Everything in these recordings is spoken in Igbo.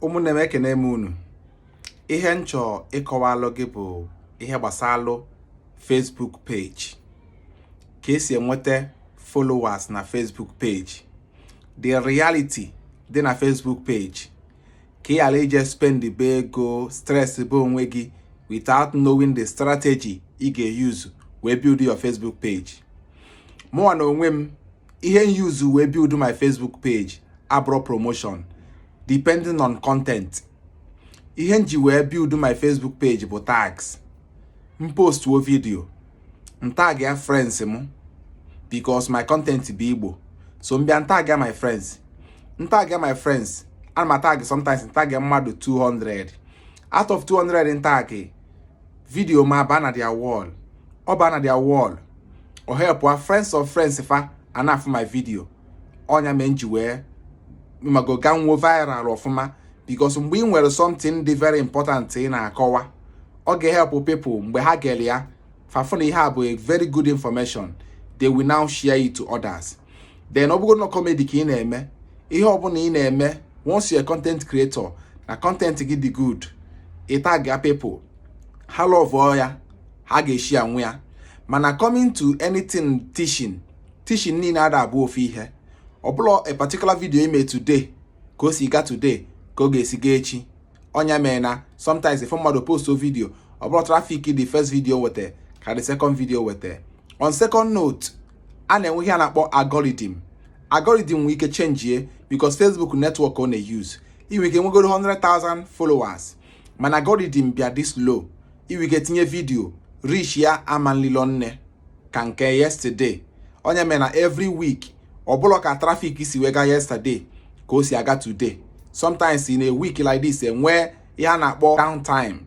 ụmụnne m ekene m unu ihe m chọọ ịkọwalụ gị bụ ihe gbasalụ Facebook page ka esi enweta followers na Facebook page the reality dị na Facebook page ka ị ghara ije spend be ego stress be onwe gị without knowing the strategy ị ga-use wee build your Facebook page mụnwa na onwe m ihe m use wee build my Facebook page abụrọ promotion depending on content ihe m ji wee build my Facebook page bụ tags m postuo vidio m tag ya friends m because my content bụ Igbo so m bịa m tag ya my friends m tag ya my friends ana m atag sometimes m tag ya mmadụ 200 out of 200 m tag vidio m abaa na their wall ọ baa na their wall ọ help a friends of friends fa a na-afụ my vidio ọnya mee m ji wee ị mago ga nwo viral ọfụma because mgbe ị nwere something dị very important ị na-akọwa ọ ga-ehelp people mgbe ha gere ya fa fụ na ihe a bụ a very good information they will now share it to others then ọ bụgoro na kọmedi ka ị na-eme ihe ọbụla ị na-eme once you're a content creator na content gị dị good ị tag ya people ha lọvụọ ya ha ga-eshare nwụ ya mana coming to anything teaching teaching niile ada abụ ofu ihe ọ bụrọ a particular video i mee today ka o si ga today ka ọ ga-esi gaa echi ọnya mere na sometimes if mmadụ postu vidio ọ bụrọ trafik the first vidio weta ka the second vidio weta on second note a na-enwe ihe a na-akpọ algorithm algorithm nwee ike chenjie because Facebook network ọ na-euse i nwee ike nwegoro 100,000 followers mana algorithm bịa dị slow i nwee ike tinye vidio reach ya ama nlilo nne ka nke yesterday ọnya mere na every week ọ bụrọ ka trafik si wee gaa yesterday ka o si aga today sometimes in a week like this enwee ihe a na-akpọ downtime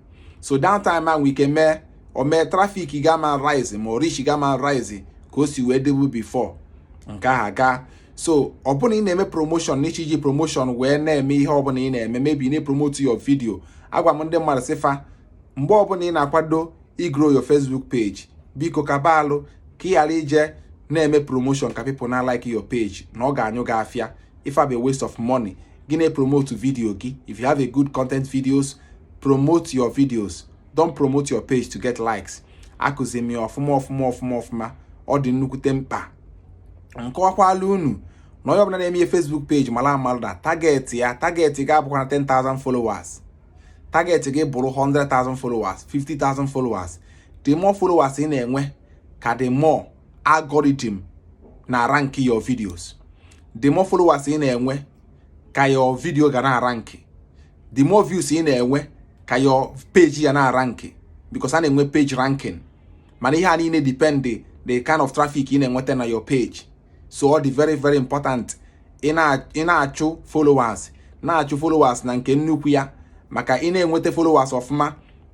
so downtime ahụ nwee ike mee o mee trafik gị ama rise ma ọ reach gị ama rise ka o si wee dịbu before nke ahụ aga so ọ bụ na ị na-eme promotion na ị chọ iji promotion wee na-eme ihe ọbụla ị na-eme maybe ị na-apromote your video agwa m ndị mmadụ sị fa mgbe ọbụla ị na-akwado igro your Facebook page biko kaba alụ ka ị ghara ije na-eme promotion ka people na like your page na ọ ga-enye gị afịa ife a bụ waste of money gị na-epromote video gị if you have a good content videos promote your videos don't promote your page to get likes akụzi m ya ọfụma ọ dị nnukwute mkpa m kọwakwalụ unu na onye ọbụla na-eme ihe Facebook page mara amalụ na target ya target ga-abụkwa na 10,000 followers target gị bụrụ 100,000 followers 50,000 followers the more followers ị na-enwe ka the more algorithm na-arank your videos the more followers ị na-enwe ka your video ga na-arank the more views ị na-enwe ka your page ga na-arank because a na-enwe page ranking mana ihe a niile depend the kind of traffic ị na-enwete na your page so ọ dị very very important ị na-achụ followers na-achụ followers na nke nnukwu ya maka ị na-enweta followers ọfụma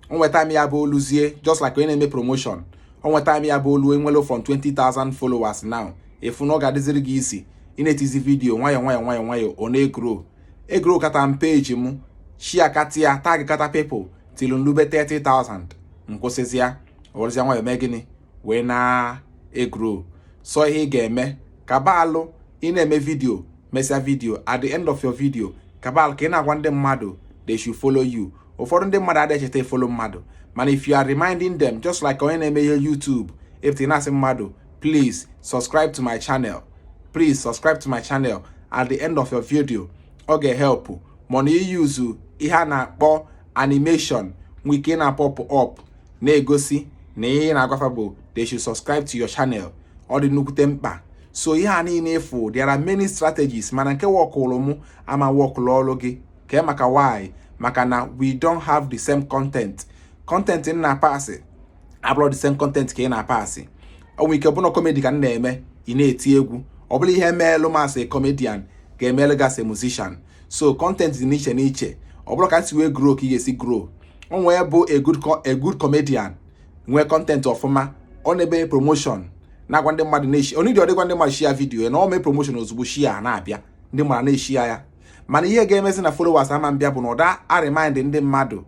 o nwe time ya-abụ o luzie just like onye na-eme promotion o nwe time ya-abụ o lu i nwelu from 20,000 followers now ị fụ na ọ ga-adịziri gị easy ị na-etizi vidiyo nwayọọ nwayọọ nwayọọ nwayọọ ọ na-egro egro kata m peji m shia kata ya tag kata people tilu m lube 30,000 m kwụsịzịa ọ rụzịa nwayọọ mee gịnị wee na-egro so ihe ị ga-eme kaba alụ ị na-eme vidio mesịa vidio at the end of your video kaba alụ ka ị na-agwa ndị mmadụ they should follow you ụfọdụ ndị mmadụ adịghị echeta ifolo mmadụ mana if you are reminding them just like onye na-eme ihe YouTube if ị na-asị mmadụ please subscribe to my channel please subscribe to my channel at the end of your video ọ ga-ehelpụ mana i yuzu ihe a na-akpọ animation nwee ike na-apọpụ up na-egosi na ihe ị na-agwa fa bụ they should subscribe to your channel ọ dị nnukwute mkpa so ihe a niile ị fụ there are many strategies mana nke wọkụlụ mụ ama wọkụlụ ọrụ gị kee maka why maka na we don't have the same content content m na-apasị abụrọ the same content ka ị na-apasị o nwe ike bụ na kọmedi ka m na-eme ị na-eti egwu ọ bụrọ ihe meelụ m as a comedian ga-emelụ gị as a musician so content dị n'iche n'iche ọ bụrọ ka m si wee grow ka ị ga-esi grow o nwee bụ a good comedian nwee content ọfụma ọ na-eme promotion na-agwa ndị mmadụ na-eshia o needirọdị ịgwa ndị mmadụ shia vidiyo na ọ mee promotion ozugbo shia na-abịa ndị mmadụ na-eshia ya mana ihe ga-emezi na followers ama abịa bụ na ọ da arimind ndị mmadụ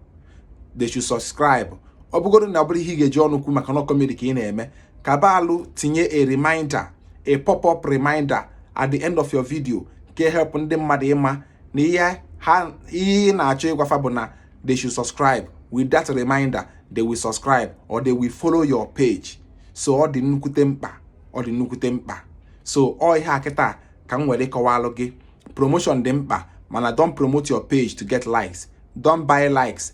they should subscribe ọ bụgodu na ọ bụrọ ihe ị ga-eji ọnụ kwu maka na kọmedi ka ị na-eme kaba alụ tinye a reminder a pop-up reminder at the end of your video ga-ehelp ndị mmadụ ịma na ihe ha ihe ị na-achọ ịgwa fa bụ na they should subscribe with that reminder they will subscribe or they will follow your page so ọ dị nnukwute mkpa ọ dị nnukwute mkpa so ọ ihe a kịta ka m nwere ịkọwalụ gị promotion dị mkpa mana don't promote your page to get likes don't buy likes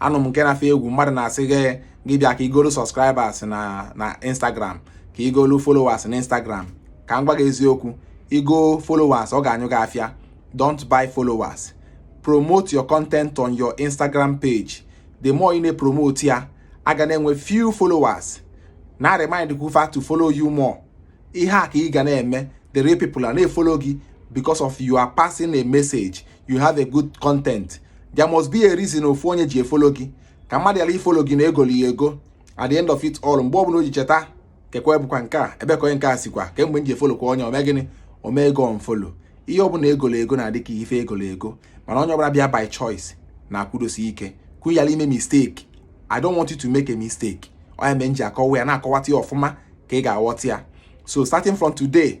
anụ m nke na-afụ egwu mmadụ na-asị gị gị bịa ka i golu subscribers na na Instagram ka i golu followers na Instagram ka m gwa gị eziokwu igo followers ọ ga-anyụ gị afịa don't buy followers promote your content on your Instagram page the more ị na-epromote ya a ga na-enwe few followers na-eremind kwu fa to follow you more ihe a ka ị ga na-eme the real people a na-efolo gị because of you are passing a message you have a good content there must be a reason ofu onye ji efolo gị ka mmadụ yala ifolo gị na egoli ya ego at the end of it all mgbe ọbụla o ji cheta kekwa ebụkwa nke a ebe ka onye nke a sikwa kemgbe m ji efolo kwa onye o mee gịnị o mee gị unfollow ihe ọbụla egolo ego na-adị ka ife egolo ego mana onye ọbụla bịa by choice na-akwụdosi ike kwu yala ime mistake i don't want you to make a mistake ọ ya mere m ji akọwa ya na-akọwata ya ọfụma ka ị ga-aghọta ya so starting from today